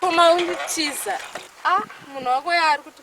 Koma unditiza. Ah, munhu wako yaari kuti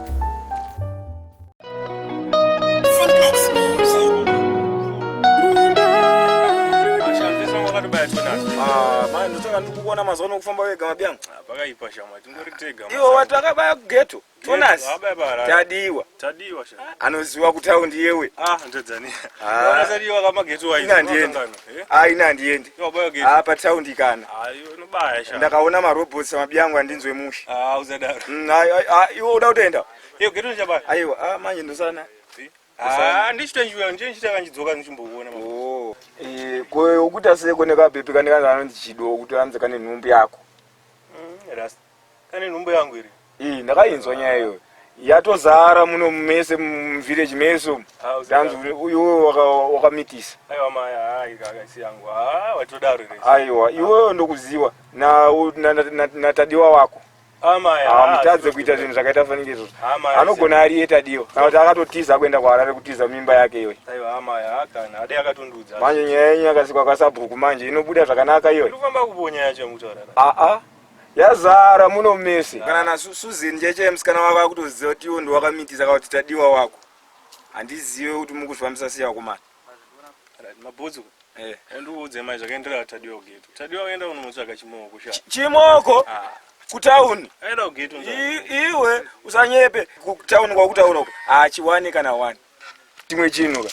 kuona mazuva ano kufamba wega mabyangu ah, pakaipa shama tingori tega iwo wati akabaya kugeto tonas tadiwa anoziwa kutaundi yewe ah, ah. ingandienda Eh? Ah, ini handiendi ah, pataundi kana ah, ndakaona marobots mabiyangu andinzwe mushe ah, mm, iwe uda kutoenda aiwa ah, manje ndosana oh. eh, koyo ukuta seko nekabhepi kanekazanondichido kuti anze kane nhumbi yako mm, Kane nhumbu yangu iri. Ii ndakainzwa nyaya iyoyo. Yatozara muno mese muvillage mese umu. Ah, uzi Tanzi ndaka- uri- iwewe waka- wakamitisa. Aiwa maya, haa ikaka si yangu. Haa watodaro ere. Aiwa iwewe ndokuziwa na- u- na- na- na- natadiwa wako. Ah maya. haa, Hamutadze sikuti kuita kuti- zvinhu zvakaita fanike izvozvo. Haa maya. Anogona ari iye tadiwa. Kana kuti akatotiza kuenda kuHarare kutiza mimba yake iyoyo. Aiwa haa maya, haa kana. Ade akatondiudza. Manje nyaya yenyu yakasikwa kwasabhuku manje inobuda zvakanaka iyoyo. Ndikufamba kuponya yacho yamutaurara. Aa yazara muno mese kana na Susan njeche msikana wako akutoziva kuti iwo ndiwakamitisa ka kuti tadiwa wako handizive kuti mukuzvifambisa sei vakomana mabhudzu eh. ndiudze mai zvakaendera tadiwa kugate tadiwa kuenda unomutsvaga chimoko sha chimoko ah. kutauni iwe usanyepe kutauni kwakutaura uko hachiwani kana wani chimwe chinhu ka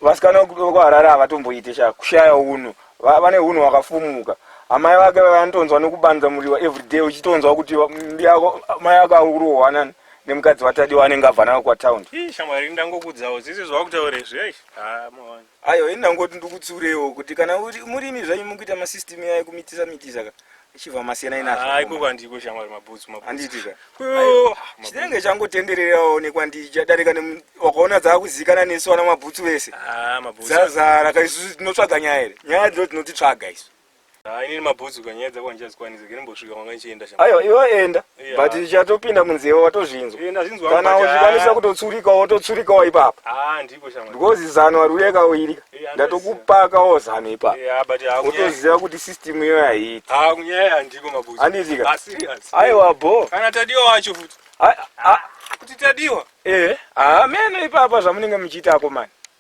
vasikana vekuharare havatomboite sha kushaya unhu vane unhu wakafumuka amai vake vanotonzwa nekubanza muriwa everyday uchitonzwa kuti mbiyako mai ako akurohwanani nemukadzi watadiwa anenge abva nako kwatown shamwari ndangokudzawo zise zvakutaurezve aiwa ini ndangoti ndikutsiureiwo kuti kana murimi zvanyu mukuita masystem yayo kumitisa mitisa ka ichibva masiyanai nazvo ah, ikoko handiko shamwari mabhutsu handiitika chinenge changotendererawo nekwandichadarika wakaona dzakuzikana nesu ana mabhutsu vese ah, dzazara ka isu tinotsvaga nyaya here nyaya dzino tinotitsvaga isu ah, inini mabhutsu ka nyaya dzako handichazikwanisa kene mbosvika kwanga ndichienda aiwa iwe enda but chatopinda munzeve watozvinzwa kana uchikwanisa kutotsurikawo wototsurikawo ipapo because zano hariuyeka uirika ndatokupakawo zano ipapo wotoziva kuti system iyoyo haiiti andiitika aiwa bo kuti tadiwa eh ameno ipapa zvamunenge muchiita akomani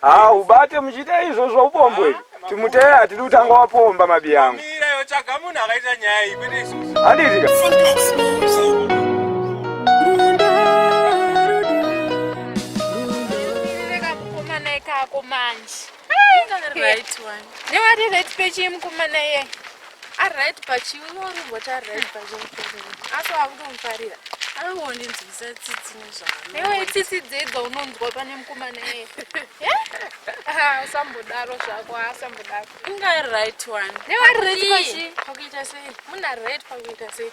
Haa ubate muchiita izvo zvaupombwe timuteya hatidi kutanga wapomba mabi yangu handiitika Right one. Newarire tipe chimukomana iye. ari right pachiwi unorumbwa kuti ari right pachiwi asi wakutomufarira anongondinzwisa tsitsi nezvaiwe tsitsi dzedza unonzwa pane mukomana iye usambodaro zvako asambodaro inga ari right one nevari right pakuita sei munhu ari right pakuita sei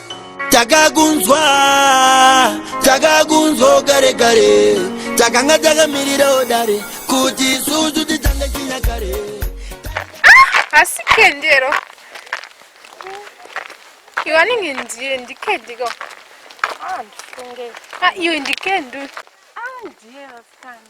takakunzwa takakunzwa kare kare takanga takamirirawo dare kuti isusu titange chinyakare asi ah, kendero iwe anenge ndiye ndikediko ah, ah, iwe ndikendu ndiye vasikana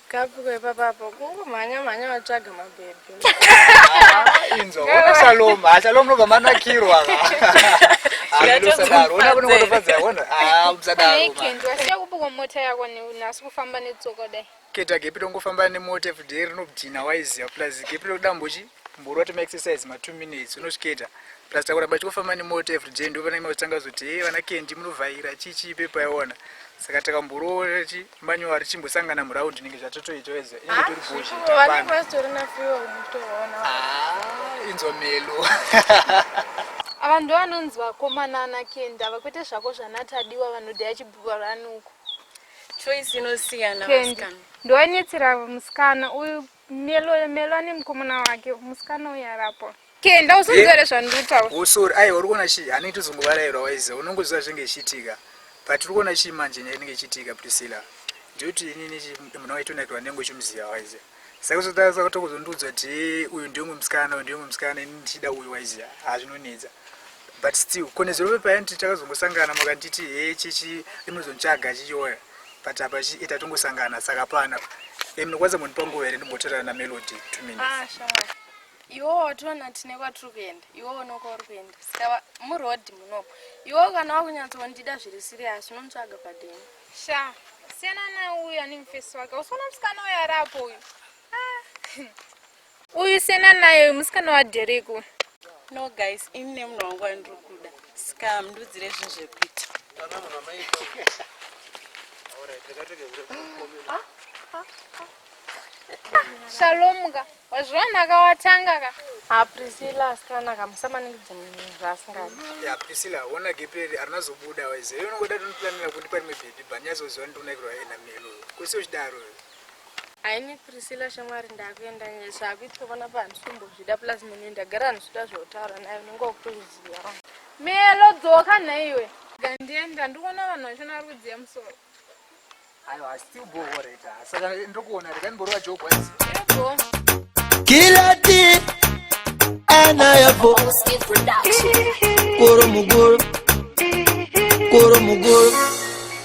Kapiko ipapa apo kungomhanya mhanya vatsvaga mabhebhi. Inzwa, ona Shalom, ah, Shalom nobva manakirwa. Amusadaro, ona kuno kutofadza, ona. Ah, musadaro. Nei Kent, wasiya kupoko mota yako nasi kufamba netsoka dai. Keta gepi tongofamba nemota everyday rinobdina waiziva plus gepi rokuda mbochi mboro wati maexercise ma two minutes unosvikaita plus takuramba tichikufamba nemoto everyday ndo vana imautanga zoti he vana kendi munovhaira chichi ipepo yaiona saka takamborora ti manyuwa richimbosangana muraundi inenge zvatotoita weze inenge tori bozhiinzwa melo ava ndo vanonzi vakomana ana kendi ava kwete zvako zvanatadiwa vanoda yachibhuva ranuko choice inosiyana ndo anetsera musikana uyu Melo Melo ane mukomana wake musikana uyu arapo kenda usonzere zvandiri kutaura oh sorry aiwa uri kuona chii hanenge tozongovarairwa waiza unongoziva zvinenge zvichiitika but uri kuona chii manje nyaya inenge ichiitika priscilla ndiyoti inini munhu waitonakirwa nengo chimuziva waiza saka uzotaura tokuzondiudza kuti uyu ndiyomwe musikana uyu ndiyomwe musikana ini ndichida uyu waiza hazvinonetsa but still konezero pepaya nditi takazongosangana makanditi he chichi rinozontsvaga chichiona but apa chi ita tongosangana saka pana e munokwanisa mundipa nguva here ndimbotorana na melody two minutes ah, sure. iwo watoona tine kwatiri kuenda iwo uno kwauri kuenda saka muroad muno iwo kana wakunyatsondida zviri siriyasi unomutsvaga padeni sha siyana nauyo ane mufesi wake usiona musikana uyo arapo uyu ah. Uyu sena naye uyu musikana wa Derek uyu. No guys, ini nemunhu wangu andiri kuda. Ska mndudzire zvinhu zvekuita. Shalom ka. Wazviona ka watanga ka. Ah Priscilla asikana ka musamaningidze munhu zvaasingadi. Ya Priscilla wona geperi arina zobuda waize. Yona ngoda tunoplanira kuti pari mebhedhi bani yazoziva ndinonaikirwa ena melo. Kusi uchidaro. Haini Priscilla shamwari ndakuenda nyaya zvakuitwa pana pandisombozvida plus munhu ndagara ndisvida zvautaura naye unenge wakutoziva. Melo dzoka nhaiwe. Gandienda ndikuona vanhu vachona vari kudziya musoro. Aiwa still go for it. Ah. Saka ndokuona rega ndimborova joke wise. Go. Kilati ana yavo. Koro mugoro. Koro mugoro.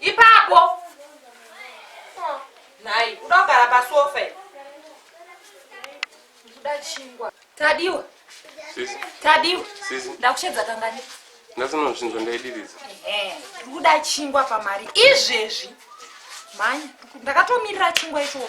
ipapo nhai uda kugara pasofa kuda chingwa tadiwa tadiwa ndakushedza kangani ndasinozvinzwa ndaidiridza ndikuda chingwa pamari izvezvi mhanya ndakatomirira chingwa ichocho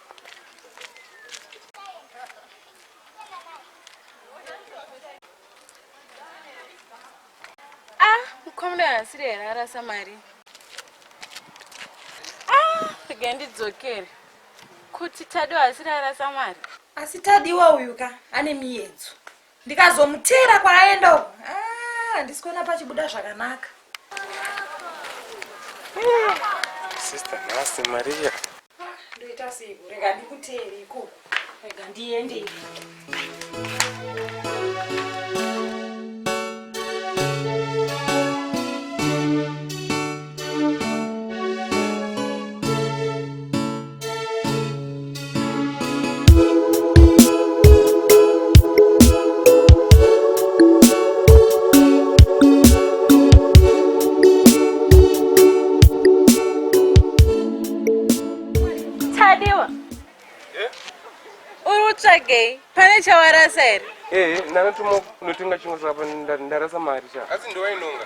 mukomana haasiri here arasa mari ah, rega ndidzokere kuti tadiwa haasiri arasa mari asi tadiwa uyu ka ane miyedzo ndikazomuteera kwaaenda uko ah, handisi kuona pachibuda zvakanaka sister nhasi maria ah, ndoita seiko rega ndikuteere ikoko rega ndiende ivi tsvagei pane chawarasa here ee eh, eh, ndakatuma kunotenga chimwe saka ndarasa mari cha asi ndowainonga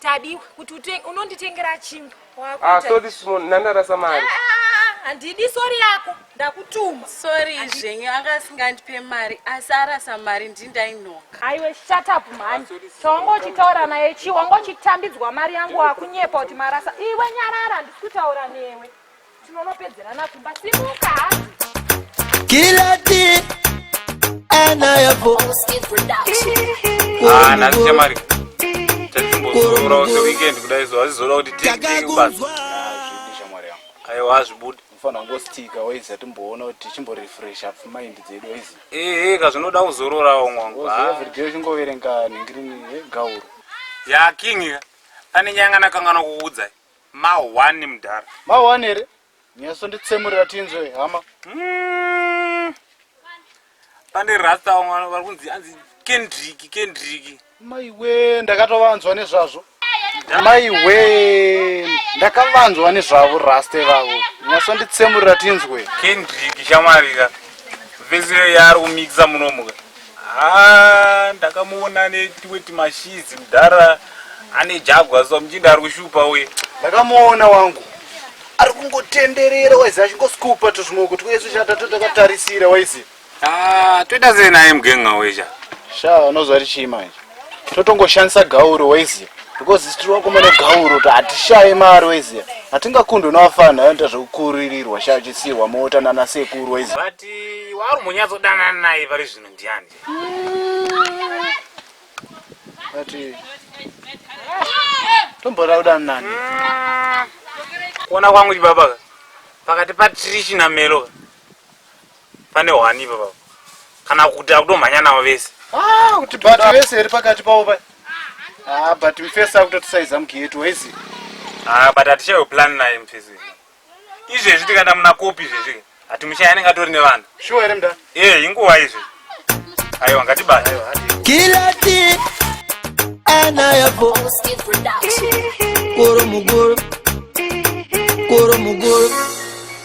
Tadiwa kuti utenge unonditengera chingwa. Ah, so this one ndandarasa mari. Ah, ah, ah, ah, Handidi sorry yako ndakutuma. Sorry zvenyu anga asingandipe mari asi arasa mari ndindainoka. Aiwe shut up mhani. Chawanga uchitaura naye chi wanga uchitambidzwa mari yangu wakunyepa kuti marasa. Iwe nyarara ndisi kutaura newe. tinonopedzerana kumba simuka kilati ana yavo ah, nhasi chamari tatimbozorora use weekend kudai so hazvizoda kuti tiiubasa aiwa hazvibude unofanira kungositika waiza timboona kuti tichimborefresha pfumaindi dzedu waiza ehe ka zvinoda kuzororawo mwangu everyday uchingoverenga nhingirini gauro ya king ane nyanga nakanganwa kuudzai Ma one mdara. Ma one here? Nyaso nditsemurira tinzwe hama. Mm. Pane rasta vamwe vari kunzi anzi Kendrick Kendrick. Mai we ndakatovanzwa nezvazvo. Mai we ndakavanzwa nezvavo rasta vavo. Nyaso nditsemurira tinzwe. Kendrick shamwarira. Vese yaari kumixa munomuka. Haa ndakamuona ane tumwe tumashizi mudhara ane jagwa so muchinda ari kushupa uye. Ndakamuona wangu ari kungotenderera waizi achingoskupa tuzvimoko twese chatatu takatarisira waizi. Ah, toita sei naye mugenga wesha? Shaa unozwa richii manje? totongoshandisa gauro waiziya because isu tiri vakomana gauro kuti hatishaye mari waiziya hatingakundwe navafana anoita zvekukuririrwa shachisiirwa mota nana sekuru waiziya but waari munyatsodanana naye pari zvino ndiani ati tomboda kudana nani kuona kwangu chibaba pakati patrishi nameloka pane hwani ipapa kana kuti akutomhanya navo vese ah, kuti bati vese iri pakati pavo pa ah, but mfesi akutotisaiza mugeti waizi ah, but hatichayo plan naye mfesi izvezvi tikaenda muna kopi izvezvi hatimuchaya anenge atori nevanhu shuwa here mda e eh, inguva izvi aiwa ngatibata kilati anayavo koro mugoro koro mugoro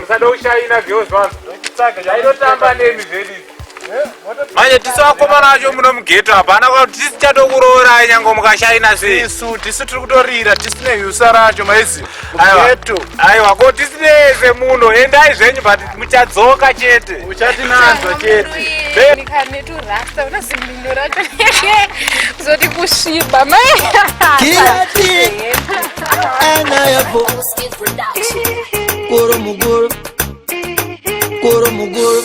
musada ushaina girls vanhu aitotamba nemi zvedi manje tisu vakomana vacho muno mugeto apa hana kuti tisi tichatokuroorai nyange mukashaina seisu tisu tiri kutorira tisine yusa racho maizi Aiwa, aiwa ko tisineze muno endai zvenyu but muchadzoka chete uchati nanzwa chete zoti kusviba maikoromuguru koromuguru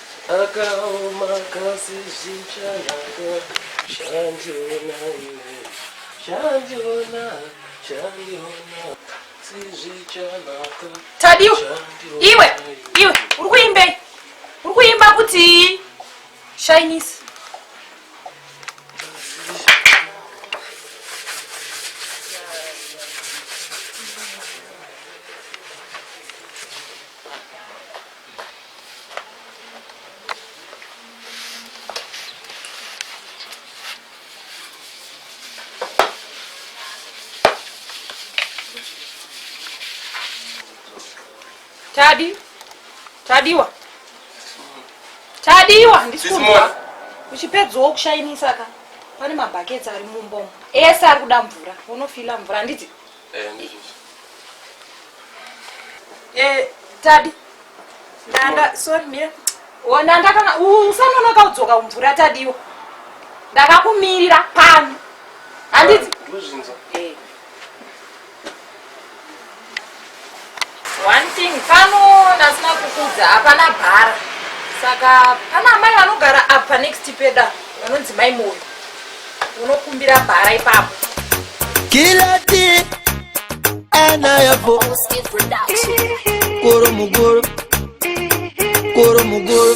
Akaoma kasi zvichanaka Shandiona iwe Shandiona Shandiona Sizvichanaka Tadiwa Iwe Iwe Uri kuimbei Uri kuimba kuti Shyness Tadi. Tadiwa. Tadiwa ndisikunzwa. Uchipedzawo kushainisa ka. Pane mabhaketsi ari mumba umu. Ese ari kuda mvura. Unofila mvura handiti? Eh, ndizvo. Eh, Tadi. Ndanda, sorry mira. Oh, ndanda kana usanonoka udzoka kumvura Tadiwo. Ndakakumirira pano. Handiti? Ndozvinza. Eh. One thing pano ndasina kukudza hapana bhara saka pana amai vanogara apa next peda vanonzi mai moyo unokumbira bhara ipapo kilati anayapo koro mugoro koro mugoro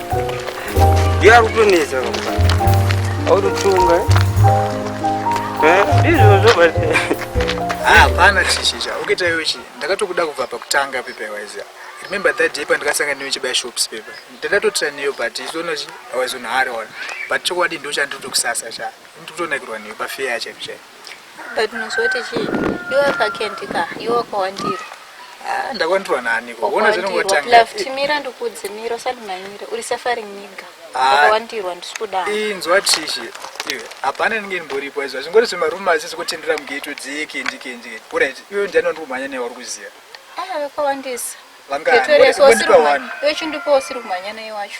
yakutonetsa autotunga ndizvozvo but hapana chishisha ukaita iwe chi ndakatokuda kubva pakutanga pepa iwaiziva remember that day pandakasanga newe chibaya shops pepa ndadatotira neyo but izoona chi awazonhari ona but chokwadi ndochandiri kutokusasa cha ndiri kutonakirwa newe pafeya chaipo chaipo but unozoti chii iwe kakendi ka iwe wakawandirwa ah, ndakwandirwa nani kuona zvinongotangatimira ndikudze mira usati manyira uri safari niga wakawandirwa ah, ndisi kudaro inzwa tishi iwe hapana ndinge ndimboripo izvo zvingori zvemarume asi zvikutendera mugeto dzikendikenjike kurit iwe ndiani wandikumhanya newe uri kuziva ah, vakawandisa vangaani wachindipo usiri kumhanya naye wacho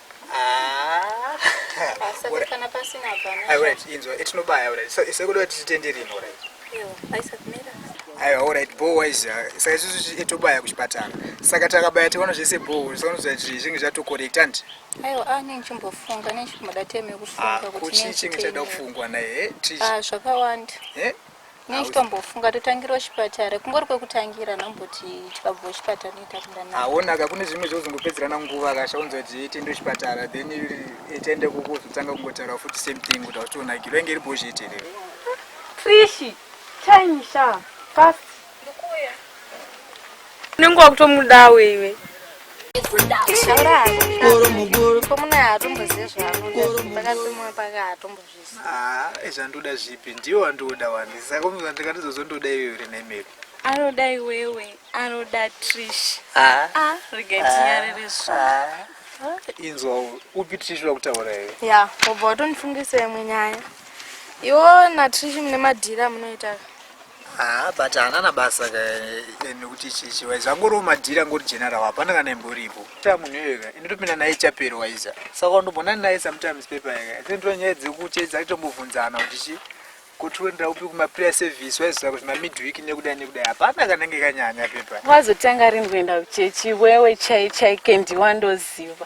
aiwa orit bho wise saka isusu tobaya kuchipatara saka takabaya tiona zvese bho sakaonoziva kuti zvinge zvatocorrect andi aiwa a ah, nenge chimbofunga nechimboda time yekufunga ah, kuti chinge chada kufungwa naye eh, ah, zvakawanda eh? Nei chitombofunga totangira kuchipatara kungori kwekutangira namboti chikabva kuchipatara noita kundana. Haona ka kune zvimwe zvozongopedzerana nguva akashaunza kuti itiende kuchipatara then itiende kuko zvotanga kungotaura futi same thing kuti hautonakirwa inge iri bozheti here. Trishi, time sha fast. Ndikuya. Unenge wakutomudawo iwe. Taura hako. Ko muna atomboziva zvaanoda pakati pemwe pake atomboziva. Haa ezvandoda zvipi ndiwe wandoda wani saka unoza ndikatizozondoda iwe uri nemiri anoda iwewe anoda trish ah. ah, regai tinyarire zvo inzwa upi trish uda kutaura iwe ya wobva watonifungisa imwe nyaya iwo natrish mune madhiri amunoita Haa but hanana basa ka nekuti chichi waiza angoriwo madhiri angori general hapana kana imboripo ta munhu iyoyeka inotopinda naye chapero waiza saka wandobonani naye sometimes pepa yaka then ndo nyaya dzekuchedza itombobvunzana kuti chi kutiwendera upi kumaprayer service waizoa kuti mamidweek nekudai nekudai hapana kanenge kanyanya pepa wazotanga rini kuenda kuchechi wewe chai chai kendi wandoziva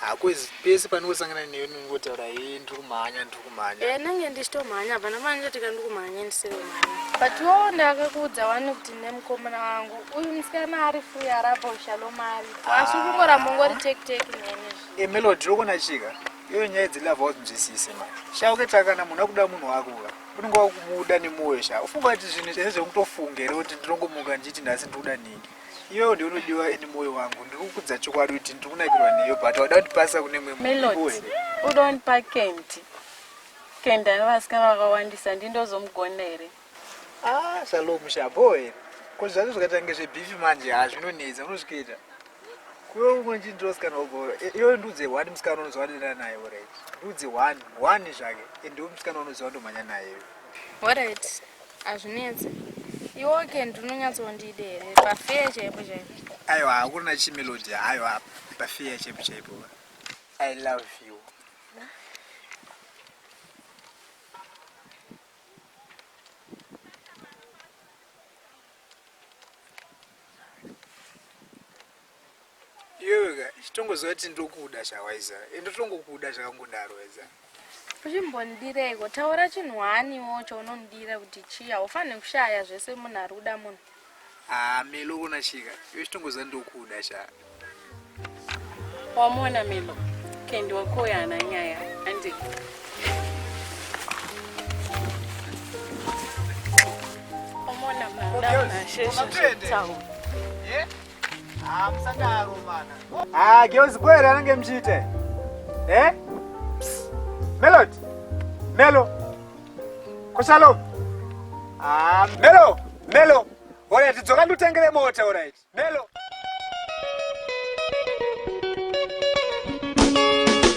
hakwezi pese pandinosangana newe ndinongotaura hee ndiri kumhanya ndiri kumhanya e nange ndichitomhanya hapana pandichotika ndiri kumhanya ndisirimhanya but wo ndakakuudza wani kuti nemukomana wangu uyu musikana ari free arabo shalomari asi kungoramba ungori tekiteki neni emelod e, rokona chika iyoyo nyaya dzilava wazinzwisise ma shauke takana munhu akuda munhu wako ka unenge wakumuda nemwoyo sha ufunga kuti zvinhu zvese zvekutofunga here kuti ndinongomuka ndichiti nhasi ndikuda ningi Iwe ndiwe unodiwa ini moyo wangu ndikukudza chokwadi kuti ndiri kunakirwa neyo but wada kundipasa kune mwe Melody, uda kundipa Candy. Candy ane vasikana vakawandisa ndindozomugona here? Ah, Shalom mushabo here? Ko zvacho zvakatange zvebifi manje ha zvinonetsa unozvikuita. Kuwe umwe chii ndirosikana woboro. Iwe ndiudze one musikana unoziva ndinana naye alright. Ndiudze one, one zvake. And ndiwe musikana unoziva ndomhanya naye. Alright. Hazvinetse. Iwe okay ndinonyatsondide here pafeya chaipo chaipo. Aiwa hakuna chimelody aiwa pafeya chaipo chaipo. I love you. Iwe wega chitongoziva kuti ndokuda chawaiza ende utongokuda zvakangodaro waiza uchimbondireiko taura chinhu waniwo chaunondira kuti chii haufanire kushaya zvese munhu ari kuda munhu haa ah, melo ona chika iwe chitongoziva ndokuda sha wamona melo kendi wakoya ana nyaya andi omona mnadaunasheshe zvetaura yeah? Ah, musadaro mana. Ah, girls boy anenge mchite. Eh? Melod. Melo. Koshalo. Ah, Melo. Melo. Ora tidzoka ndutengere mota, all right. Melo.